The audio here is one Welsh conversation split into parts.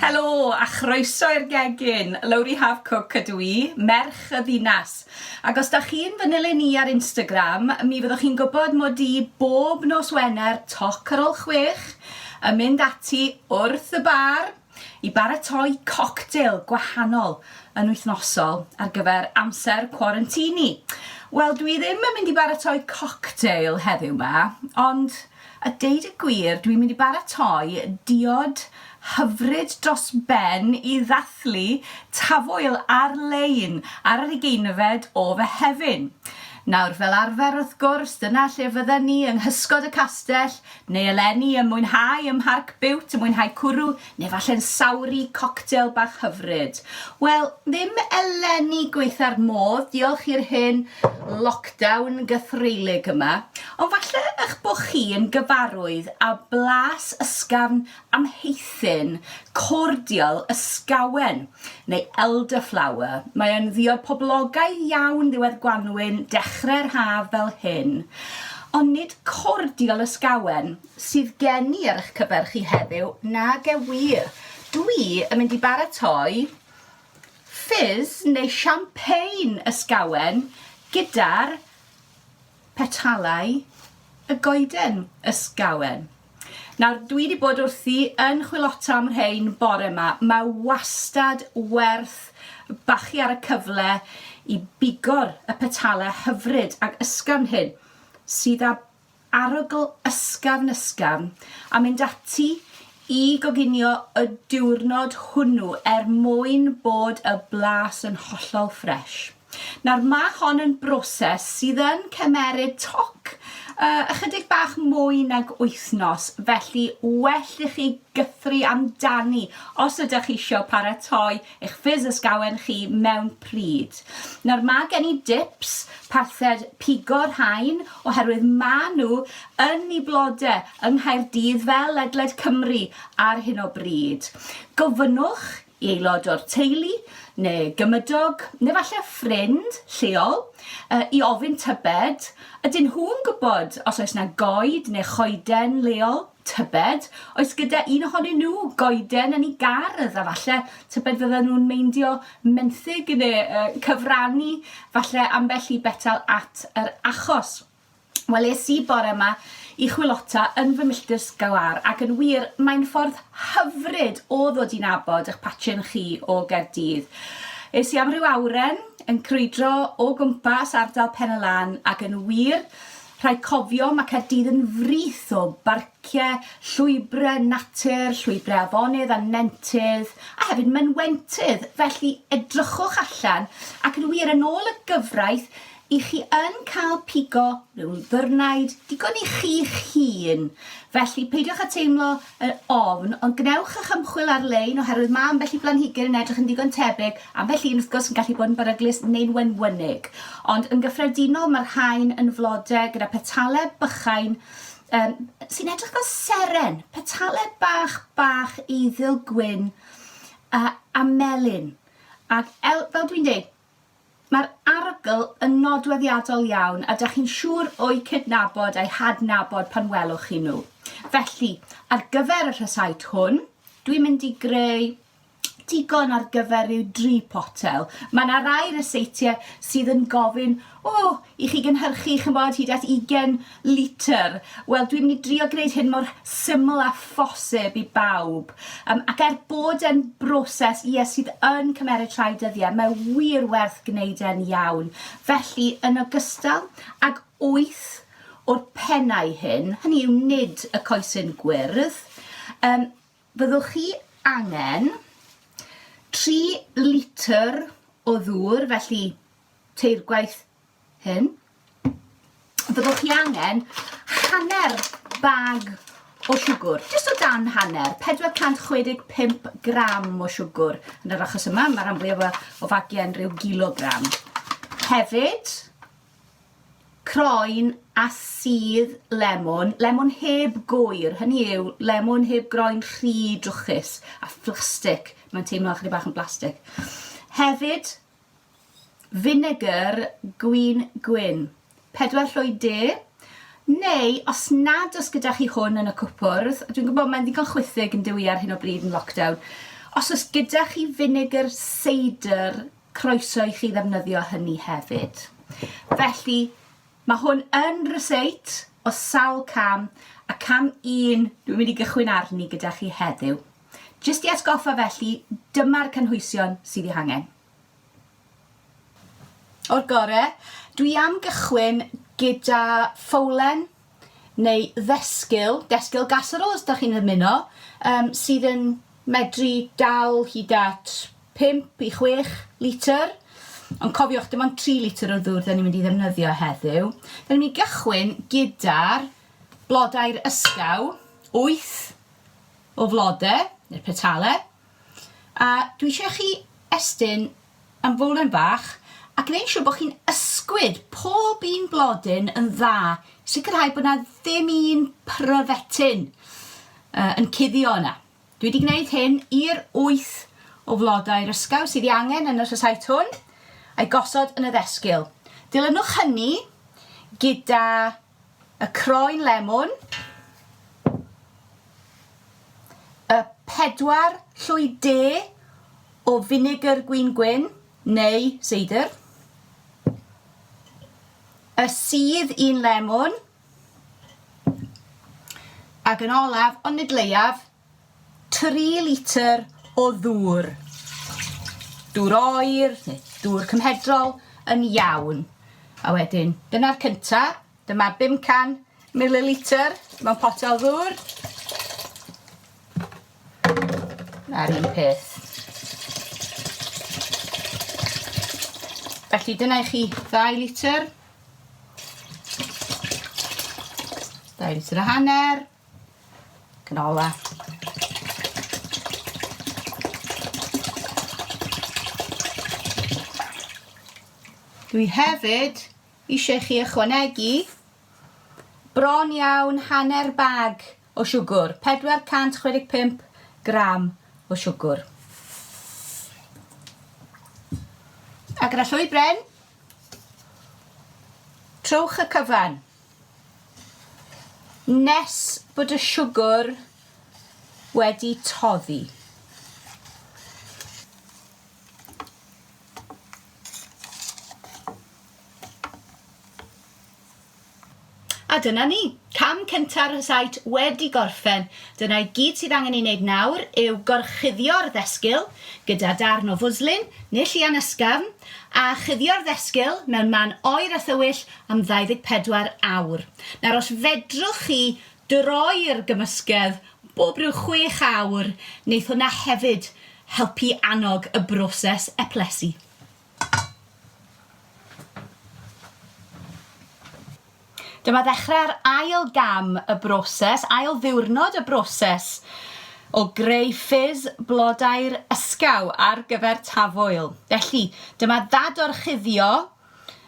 Helo a chroeso i'r gegin! Lowri Haf-Cooke ydw i, merch y ddinas. Ac os da chi'n fy nilyn i ar Instagram, mi fyddwch chi'n gwybod mod i bob nos Wener toc ar ol chwech yn mynd ati wrth y bar, i baratoi coctêl gwahanol yn wythnosol ar gyfer amser cwarantini. Wel, dwi ddim yn mynd i baratoi coctêl heddiw ma, ond a deud y gwir, dwi'n mynd i baratoi diod hyfryd dros ben i ddathlu tafwyl ar-lein ar yr ugeinfed o Fehefin. Nawr, fel arfer wrth gwrs, dyna lle fydden ni yng nghysgod y castell, Neu eleni yn mwynhau ym Mharc Bute, yn mwynhau cwrw, neu falle'n sawru coctel bach hyfryd. Wel, ddim eleni gwaetha'r modd, diolch i'r hen lockdown gythreulig yma, ond falle eich bod chi yn gyfarwydd â blas ysgafn Amheuthun, Cordial ysgawen, neu elderflower, mae o'n ddiod poblogaidd iawn ddiwedd gwanwyn, dechrau'r haf fel hyn. Ond nid cordial ysgawen sydd gen i ar eich cyfer chi heddiw, nage wir. Dwi yn mynd i baratoi fizz neu champagne ysgawen gyda'r Petalau y goeden, ysgawen. Nawr, dwi 'di bod wrthi yn chwilota am rhein bore 'ma. Mae wastad werth bachu ar y cyfle i bigor y petale hyfryd ac ysgafn hyn, sydd â arogl ysgafn ysgafn, a mynd ati i goginio y diwrnod hwnnw er mwyn bod y blas yn hollol fresh. Nawr, mae hon yn broses sydd yn cymeryd toc yy ychydig bach mwy nag wythnos, felly well i chi gythru amdani os ydych chi eisiau paratoi eich ffys ysgawen chi mewn pryd. Nawr, mae gen i dips parthed pigo rhain oherwydd mae nhw yn i blode yng Nghaerdydd fel ledled Cymru ar hyn o bryd. Gofynnwch i aelod o'r teulu neu gymydog, neu falle ffrind lleol, i ofyn tybed, ydyn nhw'n gwybod os oes yna goed neu choeden leol, tybed, oes gyda un ohonyn nhw goeden yn ei gardd, a falle tybed fydden nhw'n meindio menthyg neu cyfrannu falle ambell i betal at yr achos. Wel, es i bore 'ma i chwilota yn fy milltir sgalar, ac yn wir, mae'n ffordd hyfryd o ddod i nabod eich patrin chi o Gaerdydd. Es i am ryw awren yn crwydro o gwmpas ardal Pen y Lan, ac yn wir, rhaid cofio, mae Caerdydd yn frith o barciau, llwybrau natur, llwybrau afonydd a nentydd, a hefyd mynwentydd, felly edrychwch allan, ac yn wir, yn ôl y gyfraith, I chi yn cael pigo mewn ddirnaid digon i chi'ch hun, felly peidiwch â teimlo yn ofn, ond gwnewch eich ymchwil ar-lein oherwydd mae ambell i blanhigyn yn edrych yn ddigon tebyg, ambell un wrth gwrs yn gallu bod yn beryglus neu'n wenwynig, ond yn gyffredinol mae'r rhain yn flodau gyda petalau bychain um, sy'n edrych fel seren, petalau bach bach eiddil gwyn uh, a melyn. Ac el, fel dwi'n dweud, Mae'r arogl yn nodweddiadol iawn a dach chi'n siŵr o'u cydnabod a'u hadnabod pan welwch chi nhw. Felly, ar gyfer y rhysait hwn, dwi'n mynd i greu digon ar gyfer rhyw dri potel. Mae yna rai ryseitiau sydd yn gofyn, o, i chi gynhyrchu ch'mbod hyd at 20 litr. Wel dwi'n mynd i drio gwneud hyn mor syml â phosib i bawb um, ac er bod e'n broses ie sydd yn cymmeryd rhai dyddiau, mae wir werth gwneud e'n iawn. Felly yn ogystal ag 8 o'r pennau hyn, hynny yw nid y coesyn gwyrdd, um, byddwch chi angen 3 litr o ddŵr, felly tair gwaith hyn, byddwch chi angen hanner bag o siwgr, jyst o dan hanner, 465 gram o siwgr. Yn yr achos yma, mae rhan fwyaf o fagiau yn rhyw gilogram. Hefyd, croen a sydd lemon, lemon heb gwyr, hynny yw lemon heb groen rhy drwchus a phlastig, mae'n teimlo chydig bach yn blastig. Hefyd, Finegr gwin gwyn. Pedwar llwyd de. Neu, os nad oes gyda chi hwn yn y cwpwrdd, dwi'n gwybod mae'n ddigon chwithig yn dywi ar hyn o bryd yn lockdown, os oes gyda chi finegr seidr, croeso i chi ddefnyddio hynny hefyd. Felly, mae hwn yn ryseit o sawl cam, a cam un dwi'n mynd i gychwyn arni gyda chi heddiw. Jyst i atgoffa felly, dyma'r cynhwysion sydd eu hangen. O'r gore, dwi am gychwyn gyda ffowlen neu ddesgyl, desgyl gasserole os da chi'n ymuno, um, sydd yn medru dal hyd at 5 i 6 litr. Ond cofiwch, dim ond 3 litr o ddŵr da ni'n mynd i ddefnyddio heddiw. Da ni'n mynd i gychwyn gyda'r blodau'r ysgaw, 8 o flode, neu'r petale, a dwi eisiau chi estyn ymfolen bach a gwneud siwr bod chi'n ysgwyd pob un blodyn yn dda, sicrhau bod na ddim un pryfetyn uh, yn cuddio yna. Dwi wedi gwneud hyn i'r wyth o flodau'r ysgaw sydd i angen yn y rhysait hwn, a'i gosod yn y ddesgyl. Dilynwch hynny gyda Y croen lemwn. Y pedwar llwy de o finegr gwin gwyn neu seidr. Y sydd un lemwn. Ac yn olaf, ond nid leiaf, tri litr o ddŵr, dŵr oer neu dŵr cymhedrol yn iawn. A wedyn, dyna'r cynta, dyma 500 mililitr mewn potel ddŵr. A'r un peth. Felly dyna i chi 2 litr. 2 litr a hanner. Canola. Dwi hefyd eisiau chi ychwanegu bron iawn hanner bag o siwgwr, 465 gram o siwgwr. A gyda llwy bren, trowch y cyfan. Nes bod y siwgr wedi toddi. A dyna ni, cam cynta'r rhysáit wedi gorffen. Dyna i gyd sydd angen ei wneud nawr yw gorchuddio'r ddesgyl gyda darn o fwslin neu llian ysgafn a chuddio'r ddesgyl mewn man oer a thywyll am 24 awr. Nawr os fedrwch chi droi'r gymysgedd bob ryw chwech awr, neith hwnna hefyd helpu annog y broses eplysu. Dyma ddechrau'r ail gam y broses, ail ddiwrnod y broses o greu ffis blodau'r ysgaw ar gyfer tafwyl. Felly, dyma ddadorchuddio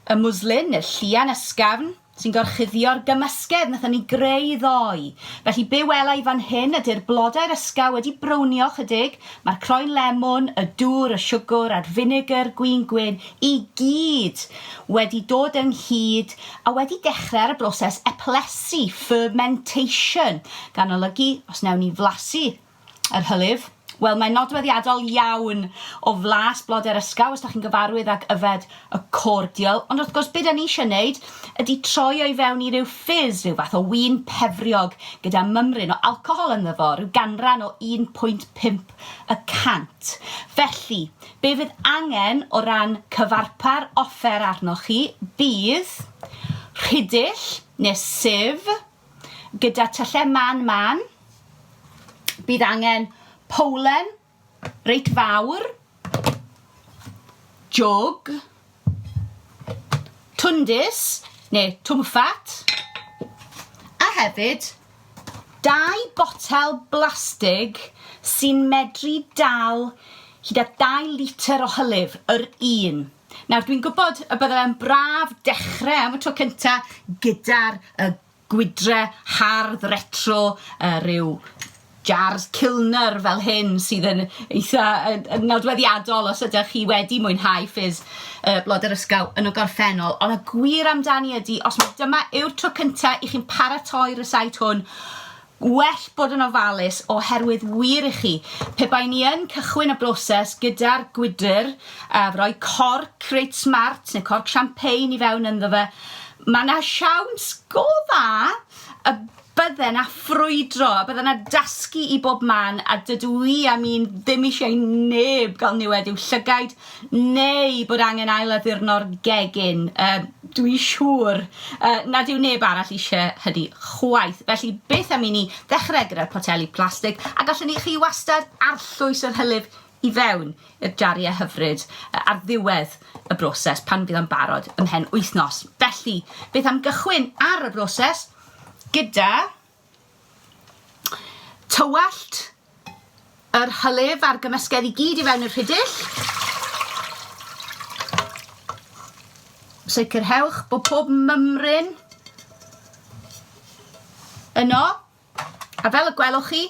Y mwslyn neu'r llian ysgafn sy'n gorchuddio'r gymysgedd wnaethon ni greu ddoe. Felly be wela i fan hyn ydy'r blodau'r ysgaw wedi brownio ychydig, mae'r croen lemwn, y dŵr, y siwgr a'r finegr gwin gwyn i gyd wedi dod ynghyd a wedi dechrau ar y broses eplysu, fermentation, gan olygu os wnewn ni flasu Yr hylif? Wel, mae'n nodweddiadol iawn o flas blodau'r ysgaw os da chi'n gyfarwydd ag yfed y cordial, ond wrth gwrs be da ni eisiau wneud ydy troi o i fewn i ryw fizz, rhyw fath o win pefriog gyda mymryn o alcohol ynddo fo, rhyw ganran o 1.5 y cant. Felly, be fydd angen o ran cyfarpar offer arnoch chi bydd rhidill neu sieve, gyda tyllau man man, bydd angen powlen reit fawr, jwg, twndys neu twmffat, a hefyd dau botel blastig sy'n medru dal hyd at 2 litr o hylif yr un. Nawr, dwi'n gwybod y bydde fe'n braf dechrau am y tro cynta gyda'r y gwydre hardd retro, uh, rhyw jars Kilner fel hyn sydd yn eitha yn, yn nodweddiadol os ydych chi wedi mwynhau ffys uh, blod yr ysgaw yn y gorffennol. Ond y gwir amdani ydy, os mae dyma yw'r tro cyntaf i chi'n paratoi rysait hwn, Gwell bod yn ofalus oherwydd wir i chi, pe bai ni yn cychwyn y broses gyda'r gwydr, a rhoi corc reit smart neu corc champagne i fewn ynddo fe, mae 'na siawns go dda y bydde 'na ffrwydro, y bydde 'na dasgu i bob man, a dydw i am un ddim eisiau i neb gael niwed i'w llygaid, neu bod angen ail-addurno'r gegin, yy, dwi'n siŵr yy nad yw neb arall eisiau hynny chwaith. Felly, beth am i ni ddechrau gyda'r poteli plastig, a gallwn ni chi wastad arllwys yr hylif i fewn i'r jariau hyfryd ar ddiwedd y broses pan fydd o'n barod ymhen wythnos. Felly, beth am gychwyn ar y broses gyda Tywallt yr hylif a'r gymysgedd i gyd i fewn i'r rhidill. Sicrhewch bod pob mymryn yno. A fel y gwelwch chi,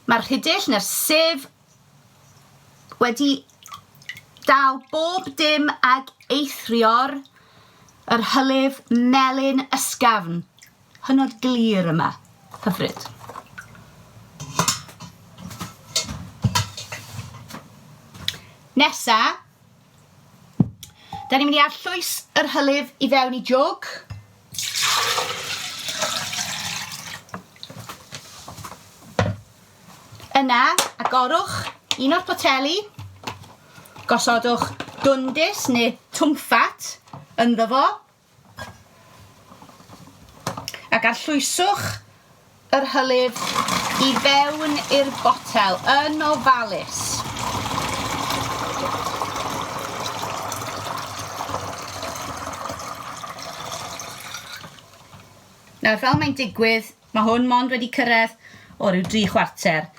mae'r rhidill neu'r sef wedi dal bob dim ag eithrio'r yr hylif melyn ysgafn. Hynod glir yma. Hyfryd. Nesa, da ni'n mynd i arllwys yr hylif i fewn i jwg. Yna, agorwch un o'r poteli, gosodwch dwndus neu twmffat ynddo fo, Ac arllwyswch yr hylif i fewn i'r botel yn ofalus. Nawr, fel mae'n digwydd, mae hwn mond wedi cyrraedd o ryw dri chwarter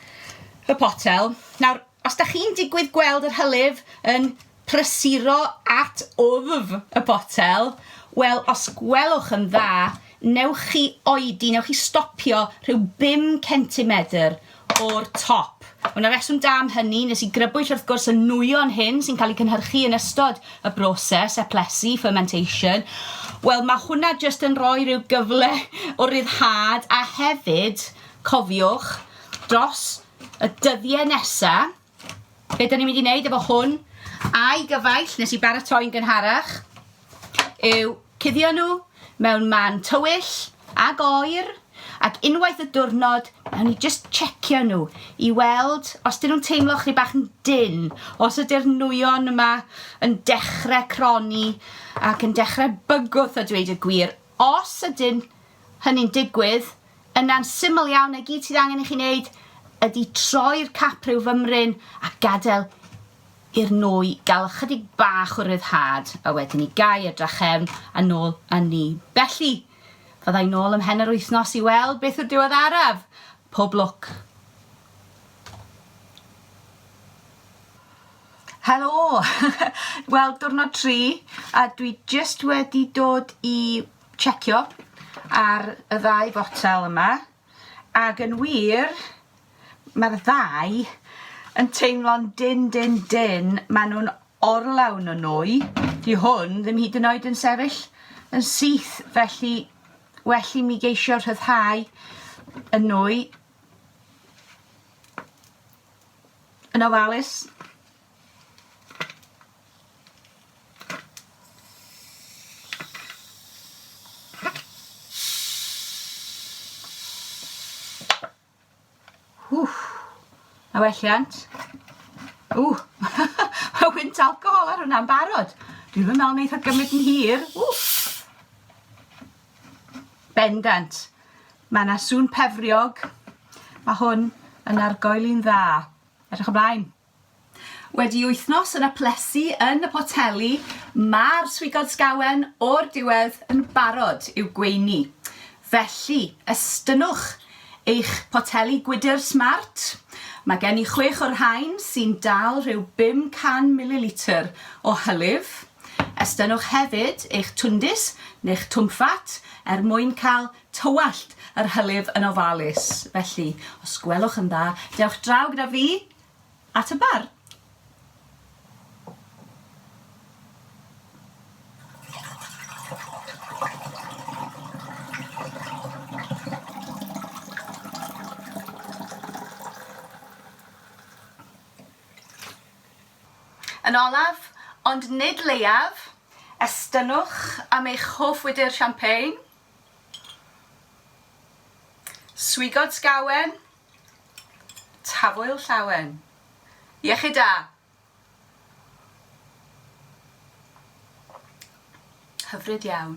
y potel. Nawr, os da chi'n digwydd gweld yr hylif yn prysuro at wddf y botel, wel os gwelwch yn dda, newch chi oedi, newch chi stopio rhyw bum centimedr o'r top. Mae yna reswm da am hynny, nes i grybwyll wrth gwrs y nwyon hyn sy'n cael eu cynhyrchu yn ystod y broses eplesu, fermentation, wel mae hwnna jyst yn rhoi rhyw gyfle o ryddhad a hefyd, cofiwch, dros y dyddiau nesaf, Be da ni'n mynd i wneud efo hwn? A'i gyfaill, nes i baratoi'n gynharach, yw cuddio nhw mewn man tywyll ag oer, ac unwaith y diwrnod, nawn ni just checio nhw i weld os dyn nhw'n teimlo chri bach yn dyn, os ydy'r nwyon yma yn dechrau croni ac yn dechrau bygwth a dweud y gwir. Os ydyn hynny'n digwydd, Yna'n syml iawn, y gyd sydd angen i chi wneud ydy troi'r cap rhyw fymryn a gadael i'r nwy gael ychydig bach o ryddhad, a wedyn i gau y drachefn a nôl â ni. Felly, fydda i nôl ymhen yr wythnos i weld beth yw'r diweddaraf. Pob lwc! Helo! Wel, diwrnod tri, a dwi jyst wedi dod i checio ar y ddau fotel yma ac yn wir mae'r ddau yn teimlo'n din din din maen nhw'n orlawn o nwy di hwn ddim hyd yn oed yn sefyll yn syth felly well i mi geisio rhyddhau y nwy yn ofalus A welliant. Ww, mae wynt alcohol ar hwnna'n barod. Dwi'n fy meddwl wneud o gymryd yn hir. Ww. Bendant. Mae yna sŵn pefriog. Mae hwn yn argoel i'n dda. Edrych ymlaen. Wedi wythnos yn aplesu yn y poteli, mae'r swigod sgawen o'r diwedd yn barod i'w gweini. Felly, estynnwch eich poteli gwydr smart. Mae gen i chwech o'r rhain sy'n dal rhyw 500 mililitr o hylif. Estynnwch hefyd eich twndis neu'ch twmffat er mwyn cael tywallt yr hylif yn ofalus. Felly, os gwelwch yn dda, dewch draw gyda fi At y bar. Yn olaf, ond nid leiaf, estynnwch am eich hoff wydr champagne, swigod sgawen Tafwyl Llawen. Iechyd da! Hyfryd iawn.